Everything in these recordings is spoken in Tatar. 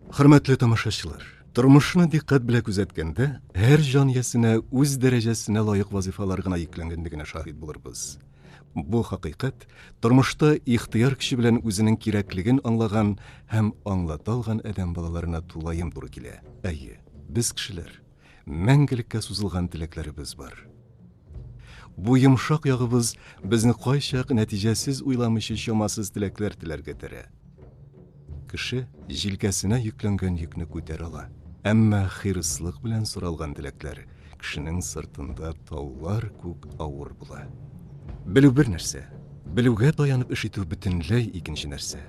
Хөрмәтле тамашачылар, тормышны диккать белән күзәткәндә, һәр җан иясенә үз дәрәҗәсенә лаек вазифалар гына йөкләнгәнлегенә шаһит булырбыз. Бу хакыйкать тормышта ихтыяр көче белән үзенең кирәклеген аңлаган һәм аңлата алган адәм балаларына тулаем туры килә. Әйе, без кешеләр, мәңгелеккә сузылган теләкләребез бар. Бу йомшак ягыбыз безне кайчак нәтиҗәсез уйламыйча чамасыз теләкләр теләргә этәрә. Кеше җилкәсенә йөкләнгән йөкне күтәрә ала. Әмма хирыслык белән соралган теләкләр кешенең сыртында таулар күк авыр була. Белү бер нәрсә, белүгә таянып эш итү бөтенләй икенче нәрсә.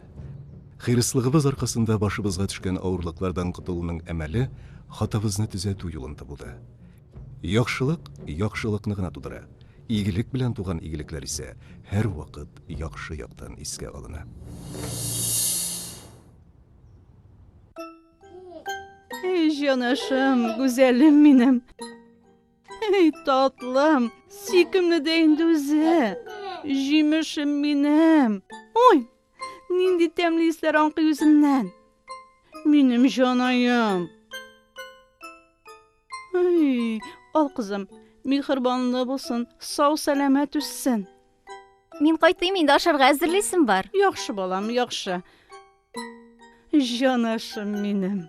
Хирыслыгыбыз аркасында башыбызга төшкән авырлыклардан котылуның әмәле хатабызны төзәтү юлын табуда. Яхшылык яхшылыкны гына тудыра, игелек белән туган игелекләр исә һәрвакыт яхшы яктан искә алына. Әй җанашым, гүзәлем минем! Әй татлым, сөйкемле дә инде үзе! Җимешем минем! Уй! Нинди тәмле исләр аңкый үзеннән. Минем җанаем. Ай, ал кызым, михырбанлы булсын, сау сәламәт үссен. Мин кайтыйм инде ашарга әзерлисем бар. Яхшы балам, яхшы. Җанашым минем.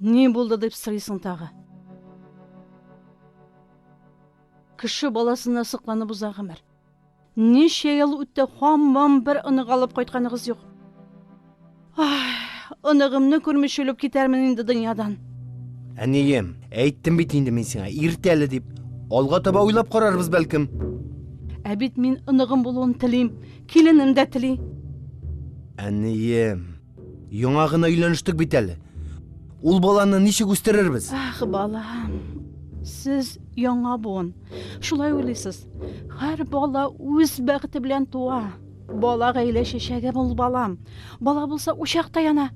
Ни булды дип сорыйсың тагы? Кеше баласына сокланып уза гомер. Ничә ел үтте, һаман бер онык алып кайтканыгыз юк. Ай, оныгымны күрмичә үлеп китәрмен инде дөньядан. Әнием, әйттем бит инде мин сиңа, иртә әле дип. Алга таба уйлап карарбыз бәлкем. Ә бит мин оныгым булуын телим, киленем дә тели. Әнием. Яңа гына өйләнештек бит әле. Ул баланы ничек үстерербез? Ах, балам. Сез яңа буын. Шулай уйлыйсыз. Һәр бала үз бәхете белән туа. Бала гаилә чәчәге бул, балам. Бала булса, учак та яна.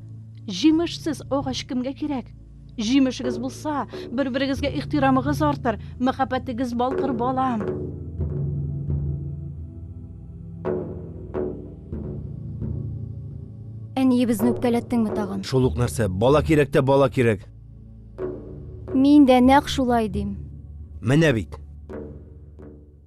Җимешсез агач кемгә кирәк? Җимешегез булса, бер-берегезгә ихтирамыгыз артыр, мәхәббәтегез балкыр, балам. Әниебезне үпкәләттеңме тагын? Шул ук нәрсә. Бала кирәк тә бала кирәк. Мин дә нәкъ шулай дим. Менә бит.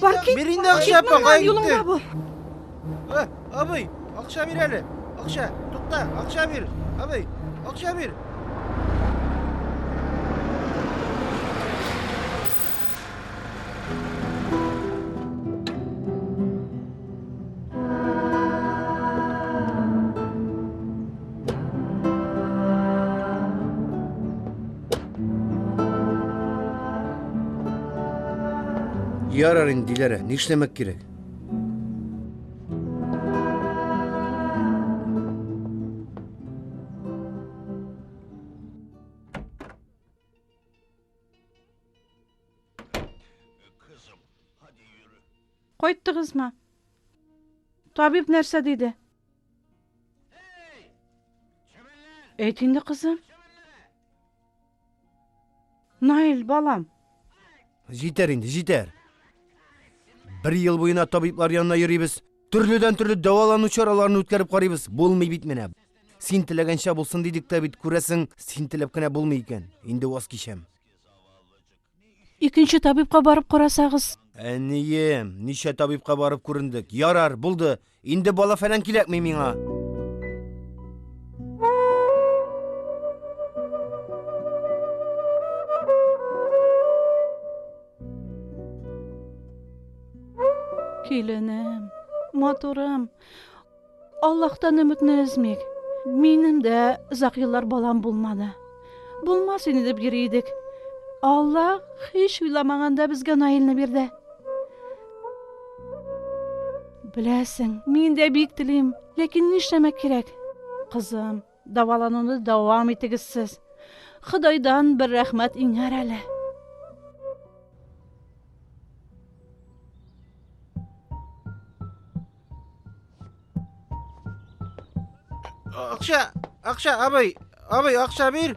Паркинг. Бир инде акча, пока юлыңда бу. Э, абый, акча бир әле. Акча, тукта, акча бир. Абый, акча бир. Ярар инде, Диләрә, нишләмәк кирәк? Кайттыгызмы? Табиб нәрсә диде? Әйт инде, кызым. Наил, балам. Җитәр инде, җитәр. Бер ел буена табиблар янына йөрибез. Төрледән төрле дәвалану чараларын үткәреп карыйбыз. Булмый бит менә. Син теләгәнчә булсын дидек тә бит, күрәсең, син теләп кенә булмый икән. Инде ваз кичәм. Икенче табибка барып карасагыз. Әнием, ничә табибка барып күрендек. Ярар, булды. Инде бала фәлән кирәкми миңа. Киленем, матурым, Аллаһтан өметне өзмик. Минем дә озак еллар балам булмады. Булмас инде дип йөри идек. Аллаһ һич уйламаганда безгә Наилне бирде. Беләсең, мин дә бик телим, ләкин нишләмәк кирәк? Кызым, Дәвалануны дәвам итегез сез. Ходайдан бер рәхмәт иңәр әле. Акча, акча, абый, абый, акча бир.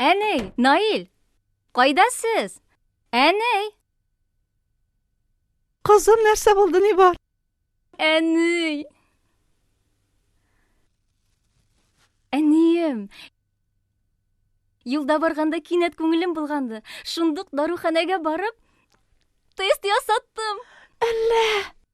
Әней! Наил! Кайда сез? Әней! Кызым, нәрсә булды, ни бар? Әней! Әнием! Юлда барганда кинәт күңелем булганды. Шундук даруханәгә барып, тест ясаттым. Әллә!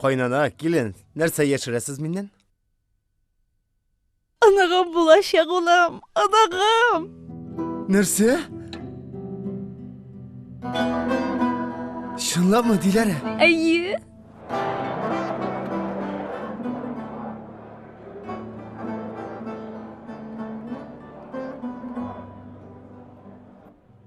Кайнана, килен, нәрсә яшерәсез миннән? Анагым булачак улым, анагым! Нәрсә? Чынлапмы, Диләрә? Әйе.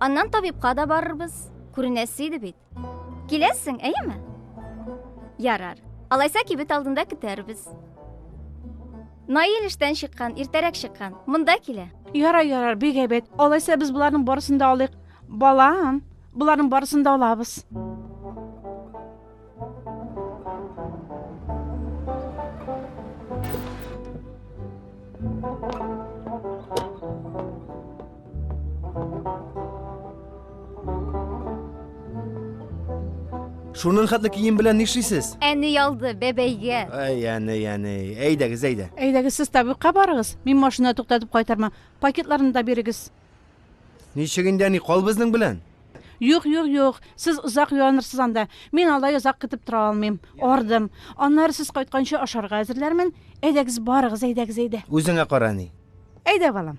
Аннан табибка да барырбыз. Күренәсе иде бит. Киләсең, әйеме? Ярар. Алайса кибет алдында көтәрбез. Наил эштән чыккан, иртәрәк чыккан. Монда килә. Ярар, ярар, бик әйбәт. Алайса без боларның барысын да алыйк. Балам, боларның барысын да алабыз. Шунын хәтле кием белән нишлисез? Әни ялды, бәбәйгә. Әй, әни, әни. Әйдәгез, әйдә. Әйдәгез, сез табибка барыгыз. Мин машина туктатып кайтармын. Пакетларны да бирегез. Ничек инде, әни, кал безнең белән. Юк, юк, юк, сез озак юанырсыз анда. Мин алай озак көтеп тора алмыйм. Ардым. Аннары сез кайтканчы ашарга әзерләрмен. Әйдәгез, барыгыз, әйдәгез, әйдә. Үзеңә кара, әни. Әйдә, балам.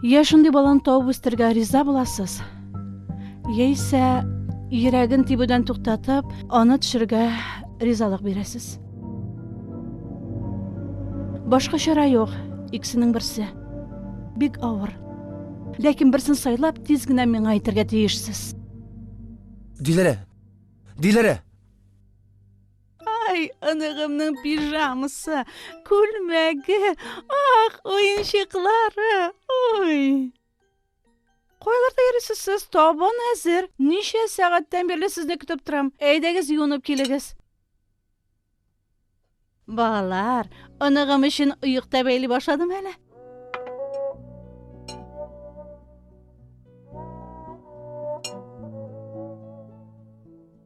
Я шундый баланы табып үстергә риза буласыз, яисә йөрәген тибүдән туктатып, аны төшергә ризалык бирәсез. Башка чара юк, иксенең берсе. Бик авыр. Ләкин берсен сайлап, тиз генә миңа әйтергә тиешсез. Диләрә! Диләрә! Ай, оныгымның пижамасы, күлмәге, ах, уенчыклары, ой. Кайларда йөрисез сез? Табын әзер. Ничә сәгатьтән бирле сезне көтеп торам. Әйдәгез юынып килегез. Балалар, оныгым өчен оекта бәйли башладым әле.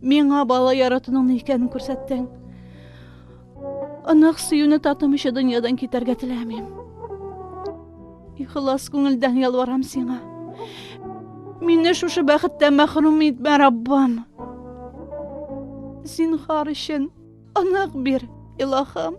Миңа бала яратуның ни икәнен күрсәттең. Онык сөюне татымыйча дөньядан китәргә теләмим. Ихлас күңелдән ялварам сиңа. Мине шушы бәхеттән мәхрүм итмә, Раббым. Зинхар өчен онык бир, илаһым.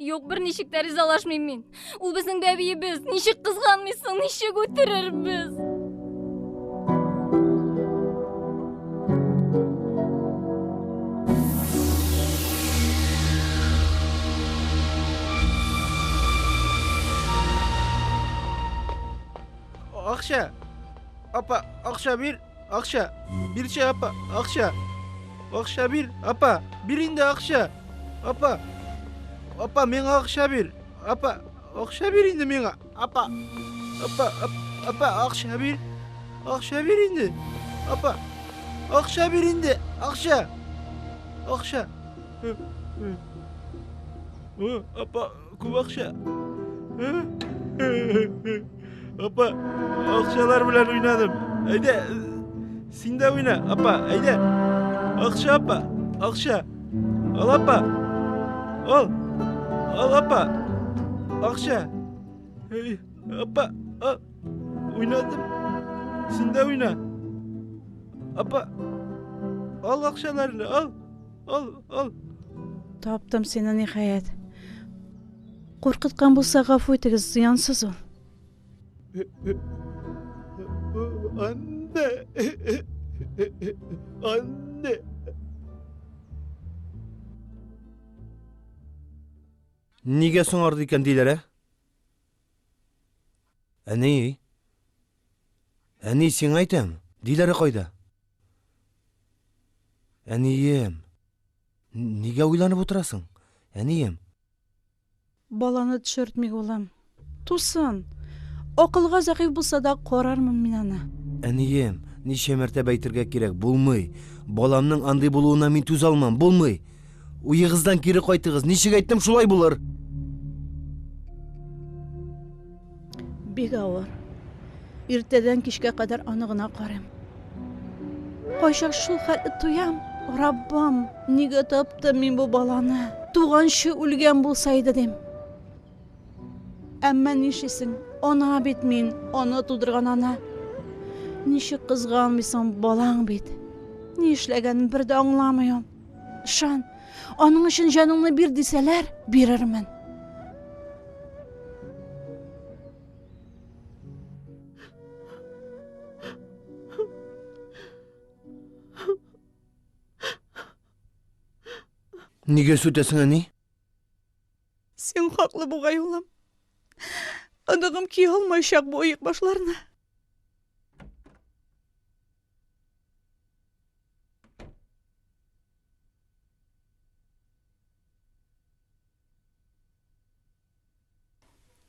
Юк, берничек тә ризалашмыйм мин. Ул безнең бәбиебез. Ничек кызганмыйсың, ничек үтерербез? Акча! Апа, акча бир! Акча, бирче апа, акча. Акча бир, апа, бир инде акча. Апа, апа, миңа акча бир. Апа, акча бир инде миңа. Апа, апа, апа, акча бир. Акча бир инде. Апа, акча бир инде, акча. Акча. Апа, Күп акча. Апа, акчалар белән уйнадым. Әйдә, син дә уйна, апа, әйдә. Акча, апа, акча. Ал, апа. Ал. Ал, апа. Акча. Эй, апа, ал. Уйнадым. Син дә уйна. Апа, ал акчаларны, ал. Ал, ал. Таптым сине ниһаять. Куркыткан булса гафу итегез, зыянсыз ул. Анне. Анне. Нигә соңарды икән диләр, ә? Әни, Әни, сиңа әйтәм, Диләрә кайда? Әнием. Нигә уйланып утырасың, әнием? Баланы төшертмик, улым. Тусын. Акылга зәгыйфь булса да, карармын мин аны. Әнием, ничә мәртәбә әйтергә кирәк, булмый. Баламның андый булуына мин түзә алмам, булмый. Уегыздан кире кайтыгыз. Ничек әйттем, шулай булыр. Бик авыр. Иртәдән кичкә кадәр аны гына карыйм. Кайчак шул хәлне тоям. Раббам, нигә таптым мин бу баланы? Туганчы үлгән булса иде дим. Әмма нишлисең? Ана бит мин, аны тудырган ана. Ничек кызганмыйсың, балаң бит. Ни эшләгәнен бер дә аңламыйм. Ышан, аның өчен җаныңны бир дисәләр, бирермен. Нигә сүтәсең, әни? Син хаклы бугай, улым. Оныгым кия алмаячак бу оек башларны.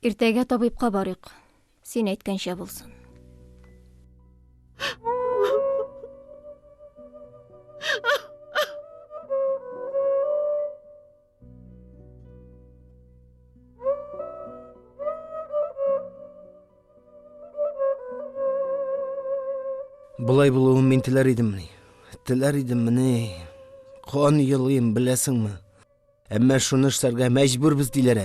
Иртәгә табибка барыйк. Син әйткәнчә булсын. Болай булуын мин теләр идеммени? Теләр идеммени? Кан елыйм, беләсеңме? Әмма шуны эшләргә мәҗбүрбез диләр.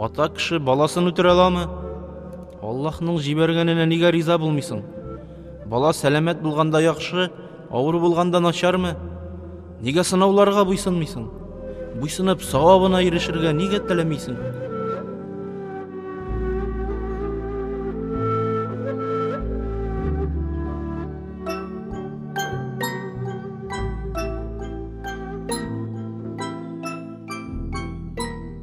Ата кеше баласын үтерә аламы? Аллаһның җибәргәненә нигә риза булмыйсың? Бала сәламәт булганда яхшы, авыр булганда начармы? Нигә сынауларга буйсынмыйсың? Буйсынып савабына ирешергә нигә теләмисең?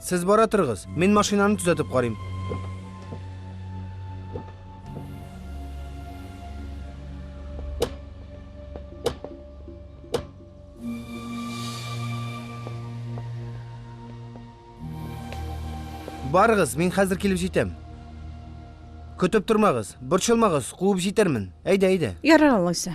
Сез бара торыгыз, мин машинаны төзәтеп карыйм. Барыгыз, мин хәзер килеп җитәм. Көтеп тормагыз, борчылмагыз, куып җитермен. Әйдә, әйдә. Ярар алайса.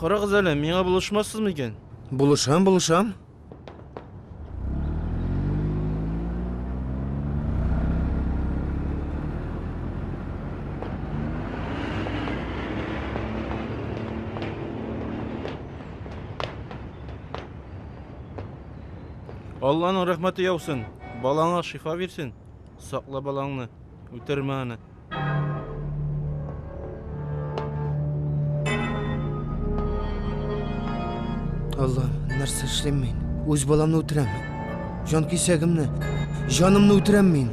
Карагыз әле, миңа булышмассызмы икән? Булышам, булышам. Алланың рәхмәте яусын. Балаңа шифа бирсен. Сакла балаңны. Үтермә аны. Аллам, нәрсә эшлим мин? Үз баламны үтерәм. Җан кисәгемне, җанымны үтерәм мин.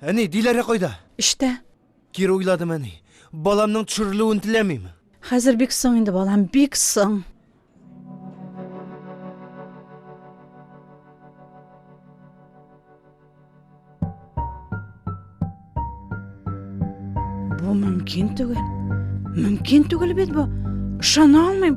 Әни, Диләрә кайда? Эштә. Кире уйладым, әни. Баламның төшерелүен теләмим. Хәзер бик соң инде, балам, бик соң. Бу мөмкин түгел. Мөмкин түгел бит бу. Ышана алмыйм.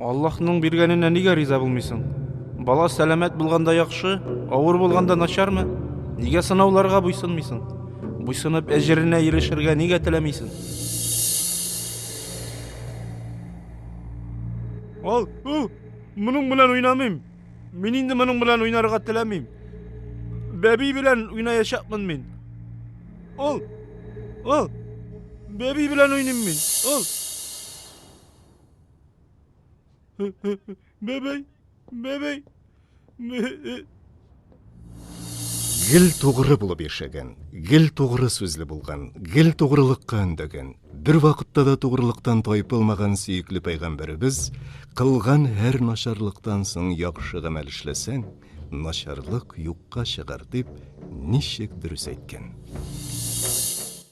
Аллаһның биргәненә нигә риза булмыйсың? Бала сәламәт булганда яхшы, авыр булганда начармы? Нигә сынауларга буйсынмыйсың? Буйсынып әҗеренә ирешергә нигә теләмисең? Ал, у, моның белән уйнамыйм. Мин инде моның белән уйнарга теләмим. Бәби белән уйнаячакмын мин. Ал, ал, бәби белән уйныйм мин. Ал. Бәбәй! Бәбәй! Гел тугры булып яшәгән, гел тугры сүзле булган, гел тугрылыкка өндәгән, бер вакытта да тугрылыктан тайпылмаган сөекле пәйгамбәребез кылган һәр начарлыктан соң яхшы гамәл эшләсәң, начарлык юкка чыгар дип ничек дөрес әйткән.